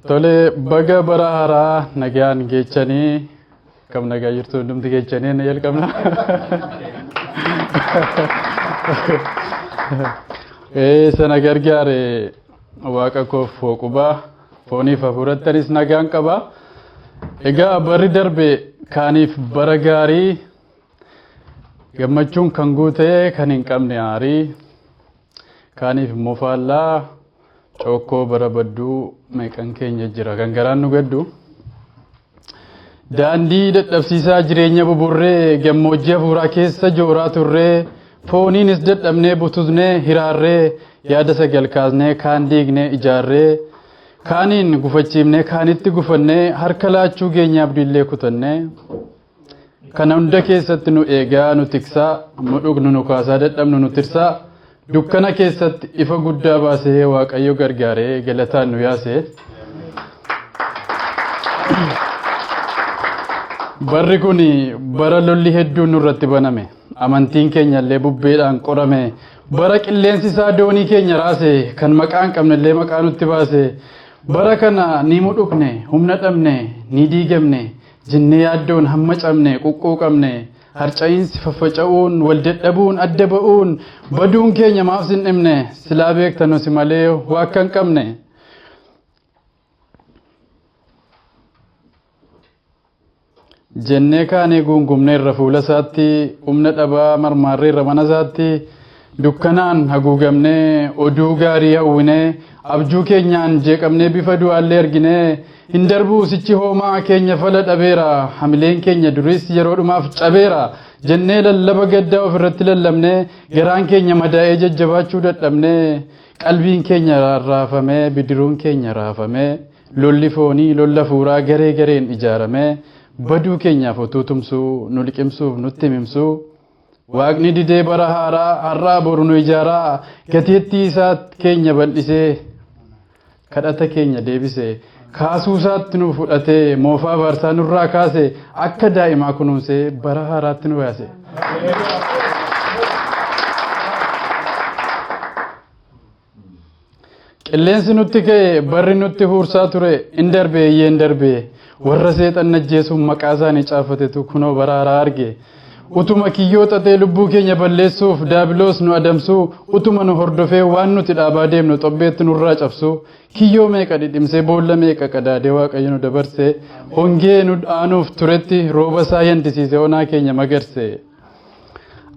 Tole baga bara haaraa nagaan geechanii kam nagaa jirtu hundumti geechanii ni jalqabna. Ee sana gargaare waaqa koof hooqubaa. Fooniif hafuurattanis nagaan qaba. Egaa barri darbe kaaniif bara gaarii gammachuun kan guute kan hin qabne aarii kaaniif immoo faallaa cookkoo bara badduu meeqan keenya jira kan garaan nu gaddu. Daandii dadhabsiisaa jireenya buburree gammoojjii hafuuraa keessa jooraa turree fooniinis dadhabnee bututnee hiraarree yaada sagal kaasnee kaan diignee ijaarree kaaniin gufachiifnee kaanitti gufannee harka laachuu geenyaa abdiillee kutannee kana hunda keessatti nu eegaa nu tiksaa nu dhugnu nu kaasaa dadhabnu nu tirsaa Dukkana keessatti ifa guddaa baasee Waaqayyo gargaaree galataan nu yaase. Barri kun bara lolli hedduun nurratti baname. Amantiin keenya illee bubbeedhaan qorame. Bara qilleensi isaa doonii keenya raase kan maqaa hin qabne illee maqaa nutti baase. Bara kana ni mudhukne, humna dhabne, ni diigamne, jennee yaaddoon hamma cabne, quqquuqamne. Harca'iinsi, faffaca'uun, wal dadhabuun, adda ba'uun, baduun keenya maaf sin dhibne? Silaa beekta nu si malee waa akka hin qabne. Jennee kaanee guungumneerra fuula isaatti, humna dhabaa marmaarreerra mana isaatti, Dukkanaan haguugamnee oduu gaarii hawwinee abjuu keenyaan jeeqamnee bifa du'aallee arginee hin darbuu sichi hoomaa keenya fala dhabeera hamileen keenya duriis yeroo dhumaaf cabeera jennee lallaba gaddaa ofirratti lallabnee garaan keenya madaa'ee jajjabaachuu dadhabnee qalbiin keenya rarraafamee bidiruun keenya raafamee lolli foonii lolla hafuuraa garee gareen ijaaramee baduu keenyaaf otuu tumsuu nu liqimsuuf nutti himimsuu Waaqni didee bara haaraa har'aa boru nu ijaaraa gateettii isaa keenya bal'isee kadhata keenya deebise kaasuu isaatti nu fudhatee moofaa baarsaa nurraa kaase akka daa'imaa kunuunsee bara haaraatti nu baase. Qilleensi nutti ka'e barri nutti huursaa ture in darbe eeyyee in darbe warra seexan ajjeesuun maqaa isaanii caafatetu kunoo bara haaraa arge. Utuma kiyyoo xaxee lubbuu keenya balleessuuf daabiloos nu adamsuu utuma nu hordofee waan nuti dhaabaa deemnu xobbeetti nurraa cabsuu kiyyoo meeqa dhidhimsee boolla meeqa qadaadee waaqayyo nu dabarse hongee nu aanuuf turetti rooba isaa yandisiise onaa keenya magarse.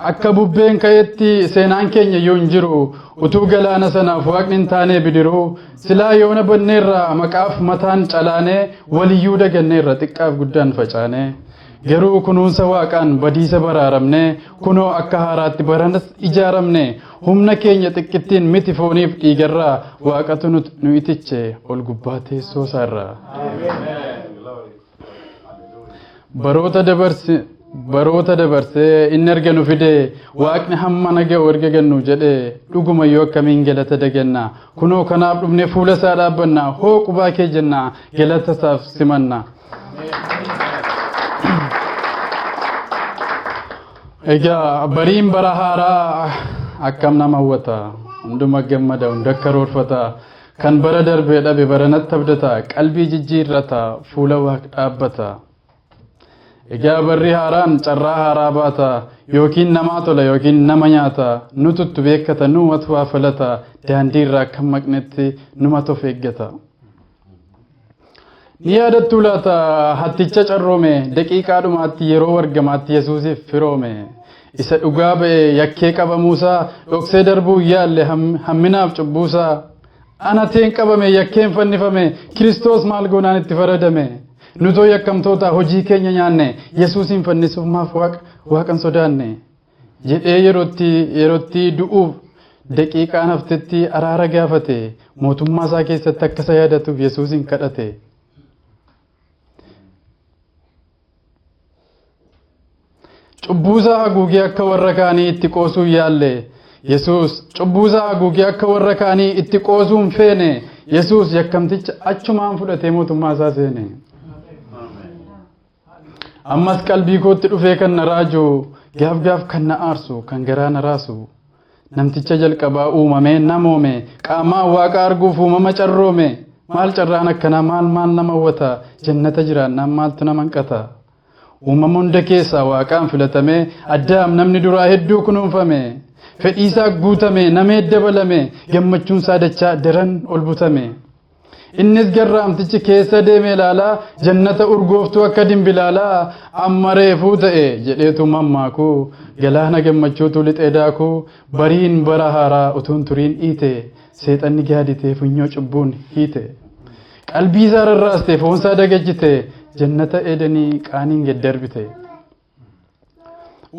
Akka bubbeen ka'etti seenaan keenya iyyuu hin jiru. Utuu galaana sanaaf waaqni hin taanee bidiruu silaa yoona banneerra maqaaf mataan calaanee waliyyuu daganneerra xiqqaaf guddaan facaanee. Garuu kunuunsa waaqaan badiisa baraaramne kunoo akka haaraatti baranas ijaaramne humna keenya xiqqittiin miti fooniif dhiigarraa waaqatu nu itiche ol gubbaa teessoo isaarraa. baroota dabarse baroota dabarsee inni erga nu fide waaqni hamma naga erga gannu jedhe dhuguma yoo akkamiin galata daganna kunoo kanaaf dhufne fuula isaa dhaabbanna hoo qubaa kee jenna galata isaaf simanna. Egaa bariin bara haaraa akkam nama hawwata hunduma gammada hunda karoorfata Kan bara darbee dhabe baranatti abdata, qalbii jijjiirrata, fuula waaq dhaabbata. Egaa barri haaraan carraa haaraa baata, yookiin namaa tola yookiin nama nyaata, nututtu beekkata, numatu waa falata, daandiirra akka hin maqnetti numatu of eeggata. Ni yaadattuu laata hatticha carroome daqiiqaa dhumaatti yeroo wargamaatti Yesuusiif firoome. Isa dhugaa ba'e yakkee qabamuusaa dhoksee darbuu yaalle hamminaaf cubbuusaa. Anateen qabame yakkeen fannifame Kiristoos maal goonaan itti faradame. Nutoo yakkamtoota hojii keenya nyaanne Yesuusiin fannisuuf maaf waaqa waaqan sodaanne. jedhee yerootti yerootti du'uuf daqiiqaan haftetti araara gaafate mootummaa isaa keessatti akka isa yaadatuuf yesuusin kadhate. Cubbuusaa haguugee akka warra kaanii itti qoosuu yaalle. Yesuus cubbuusaa haguugee akka warra kaanii itti qoosuu hin feene. Yesuus yakkamticha achumaan fudhatee mootummaa isaa seene. Ammas qalbii kootti dhufee kan na raaju gaaf gaaf kan na aarsu kan garaa na raasu namticha jalqabaa uumamee namoome qaamaa waaqa arguuf uumama carroome maal carraan akkanaa maal maal nama hawwata jannata jiraannaan maaltu nama hanqata uumama hunda keessaa waaqaan filatamee addaam namni duraa hedduu kunuunfame fedhiisaa guutame namee dabalame gammachuunsaa dachaa daran ol butame. Innis garraamtichi keessa deeme ilaalaa jannata urgooftuu akka dimbilaalaa amma reefuu ta'e jedheetu mammaaku galaana gammachuutu lixee daaku bariin bara haaraa utuun turiin dhiite seexanni gaaditee funyoo cubbuun hiite qalbiisaa rarraaste foonsaa dagachite jannata eedanii qaaniin gad darbite.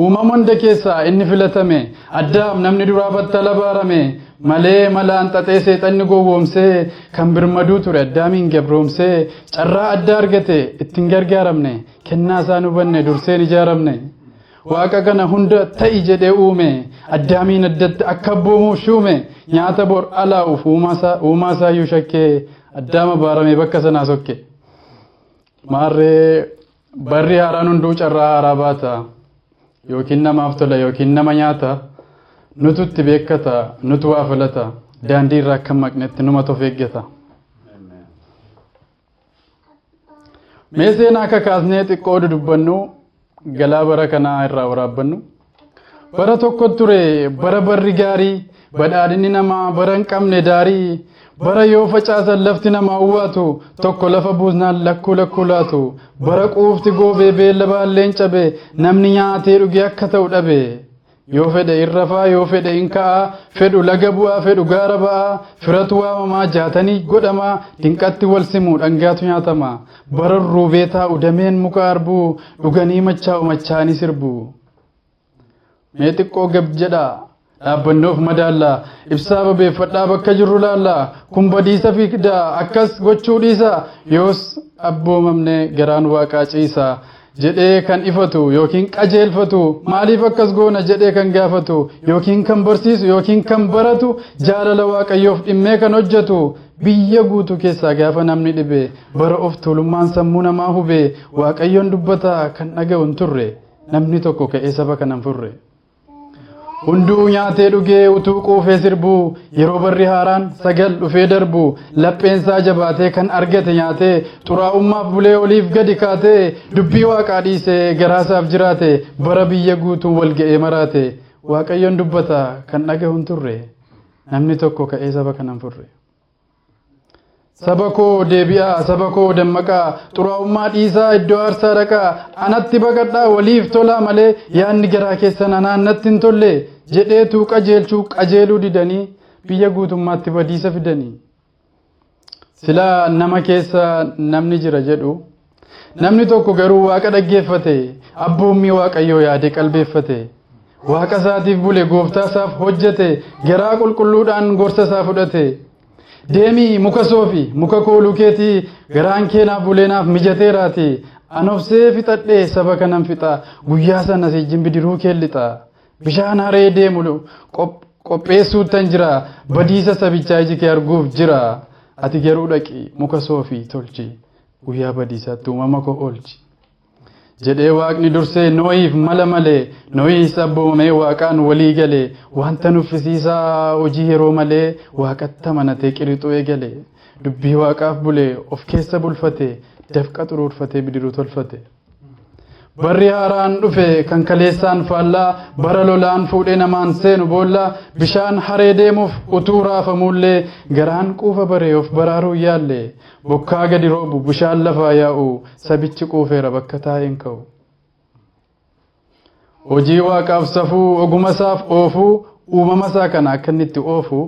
uumama hunda keessaa inni filatame addaam namni duraa battala baarame malee malaan xaxee seexanni gowwoomsee kan birmaduu ture addaamiin gabroomsee carraa addaa argate ittiin gargaaramne kennaa isaan hubanne durseen ijaaramne waaqa kana hunda ta'i jedhee uume addaamiin addatti akka abboomuuf shuume nyaata bor alaa'uuf uumaa isaayyuu shakkee addaama baarame bakka sanaa sokke maarree Barri haaraan hunduu carraa haaraa baata. Yookiin namaaf tola yookiin nama nyaata. Nutu itti beekkata, nutu waa filata. Daandii irraa akka maqnetti numatu of eeggata. Mee seenaa akka kaasnee xiqqoo dudubbannu galaa bara kanaa irraa waraabbannu. Bara tokko ture bara barri gaarii badhaadhinni namaa bara hin qabne daarii bara yoo facaasan lafti namaa uwwaatu tokko lafa buusnaan lakkuu lakkuu laatu bara quufti goobee beella baalleen cabe namni nyaatee dhugee akka ta'u dhabe. Yoo fedhe in rafaa yoo fedhe in ka'aa fedhu laga bu'aa fedhu gaara ba'aa firatu waamamaa jaatanii godhamaa dinqatti wal simu dhangaatu nyaatama Bararruu beetaa udameen muka arbuu dhuganii machaa'u machaa'anii sirbu. Mee xiqqoo gab jedhaa dhaabbanne of madaalla ibsaa babeeffadhaa bakka jirru laalla kun badiisa fiigdaa akkas gochuu dhiisa yoos abboomamne garaan waaqaa ciisa. jedhee kan ifatu yookiin qajeelfatu maaliif akkas goona jedhee kan gaafatu yookiin kan barsiisu yookiin kan baratu jaalala waaqayyoof dhimmee kan hojjetu biyya guutuu keessaa gaafa namni dhibe bara of tuulummaan sammuu namaa hubee waaqayyoon dubbataa kan dhaga'u hin turre namni tokko ka'ee saba kanan furre. Hunduu nyaatee dhugee utuu quufee sirbuu yeroo barri haaraan sagal dhufee darbu lapheensaa jabaatee kan argate nyaatee xuraa'ummaaf bulee oliif gadi kaatee dubbii waaqaa dhiisee garaasaaf jiraate bara biyya guutuu wal ga'ee maraate waaqayyoon dubbata kan dhagahu hin turre namni tokko ka'ee saba kanan furre. Saba koo deebi'aa, saba koo dammaqaa, xuraa'ummaa dhiisaa iddoo aarsaa dhaqaa, anatti baqadhaa waliif tolaa malee yaadni garaa keessan anaan natti hin tolle jedheetu qajeelchuu qajeeluu didanii biyya guutummaatti badiisa fidanii. Silaa nama keessa namni jira jedhu. Namni tokko garuu waaqa dhaggeeffate, abboommii waaqayyoo yaade qalbeeffate. Waaqa isaatiif bule, gooftaa isaaf hojjete, garaa qulqulluudhaan gorsa isaa fudhate. Deemii muka soofi, muka kooluu keetii garaan kee naaf bulee naaf mijateeraati. An obsee fixadhee saba kanan fixa, guyyaa sana siijjin bidiruu kee lixa. Bishaan haree deemu qopheessuuttan jira, badiisa sabichaa iji kee arguuf jira. Ati garuu dhaqi muka soofi tolchi. Guyyaa badiisaatti uumama koo oolchi. jedhee waaqni dursee nooyiif mala malee nooyiis abboomamee waaqaan walii galee wanta nuffisiisaa hojii yeroo malee waaqatti amanatee qirixuu eegale dubbii waaqaaf bulee of keessa bulfatee dafqa xuruurfatee bidiruu tolfate. Barri haaraan dhufe kan kaleessaan faallaa bara lolaan fuudhee namaan seenu boolla bishaan haree deemuuf utuu raafamuullee garaan quufa baree of baraaruu yaalle bokkaa gadi roobu bishaan lafaa yaa'u sabichi quufeera bakka taa'een ka'u. Hojii waaqaaf safuu, ogumasaaf oofuu, uumamasaa kana akka inni itti oofu,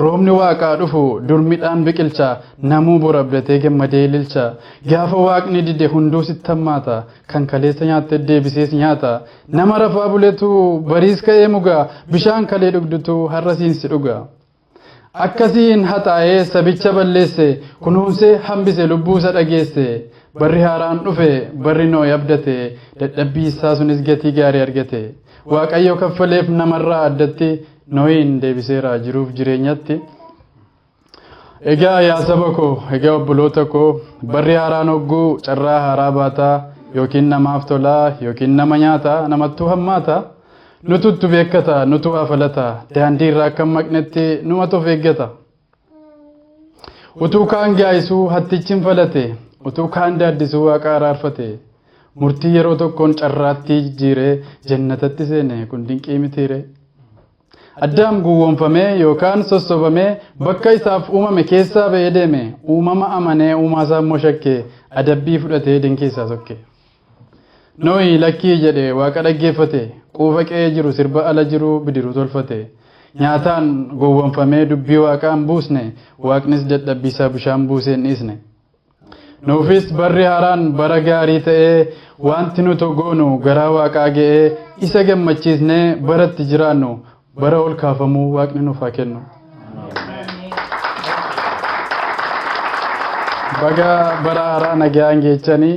roobni waaqaa dhufu, dur midhaan biqilcha, namuu bor abdatee gammadee ililcha. Gaafa waaqni dide hunduu sitti hammaata, kan kaleessa nyaatte deebisees nyaata. Nama rafaa buletu bariis ka'ee muga, bishaan kalee dhugdutu har'a siin si dhuga. Akkasiin haxaa'ee sabicha balleesse, kunuunsee hambise lubbuusa dhageesse. Barri haaraan dhufe, barri Noohi abdate, dadhabbiisaa sunis gatii gaarii argate. Waaqayyo kaffaleef namarraa addatti Noohiin deebiseera jiruuf jireenyatti. Egaa yaa saba koo, egaa obboloota koo, barri haaraan hogguu carraa haaraa baataa yookiin namaaf tolaa yookiin nama nyaataa namattuu hammaataa. Nututtu beekkata, nutu waa falata, daandii irraa akka hin maqnetti numatu of eeggata. Utuu kaan gaa'isuu hattichi hin falate, utuu kaan daaddisuu waaqa araarfate. Murtii yeroo tokkoon carraattii jijjiiree jannatatti seene kun dinqii mitiire. Addaam gowwoomfamee yookaan sossobamee bakka isaaf uumame keessaa ba'ee deeme uumama amanee uumaasaa immoo shakke adabbii fudhatee dinqii isaa sokke. Nohi lakkii jedhe Waaqa dhaggeeffate, quufa qe'ee jiru sirba ala jiru bidiruu tolfate. Nyaataan gowwomfamee dubbii Waaqaa hin buusne, Waaqnis dadhabbii isaa bishaan buusee hin dhiisne. Nuufis barri haaraan bara gaarii ta'ee, waanti nuto goonu garaa Waaqaa ga'ee, isa gammachiisnee bara itti jiraannu, bara ol kaafamuu Waaqni nuuf haa kennu. Baga bara haaraa nagaan geechanii.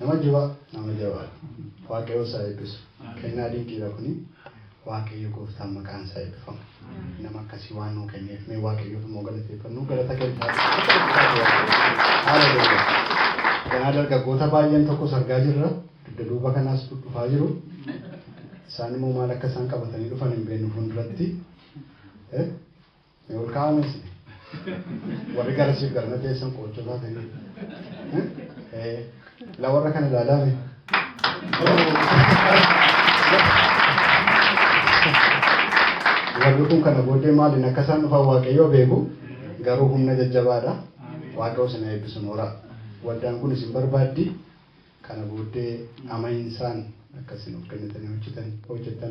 Nama jiba nama jabaa waaqayoo isaa eebbisu kennaa dinqiidha kuni waaqayyo gooftaan maqaan isaa eebbifamu nama akkasii waan nuu kenneef mee waaqayyoof immoo galateeffannuu galata keenya akka dubbisaati waaqayyo haleluuyaa ganaa dargaggoota baay'een tokkos argaa jirra dugda duuba kanaas dhufaa jiru isaan immoo maal akka isaan qabatanii dhufan hin beeknu fuulduratti Ni ol ka'aa mee isin? Warri gara siif garana teessan qoochoo taatanii. Eh, La warra kana ilaalaa mee? Warri kun kana booddee maaliin akka isaan dhufan Waaqayyoo beeku garuu humna jajjabaadha. Waaqayyoo isin haa eebbisu nooraa. Waldaan kun isin barbaaddi. Kana booddee amahinsaan akka isin of kennitanii hojjetan hojjettan.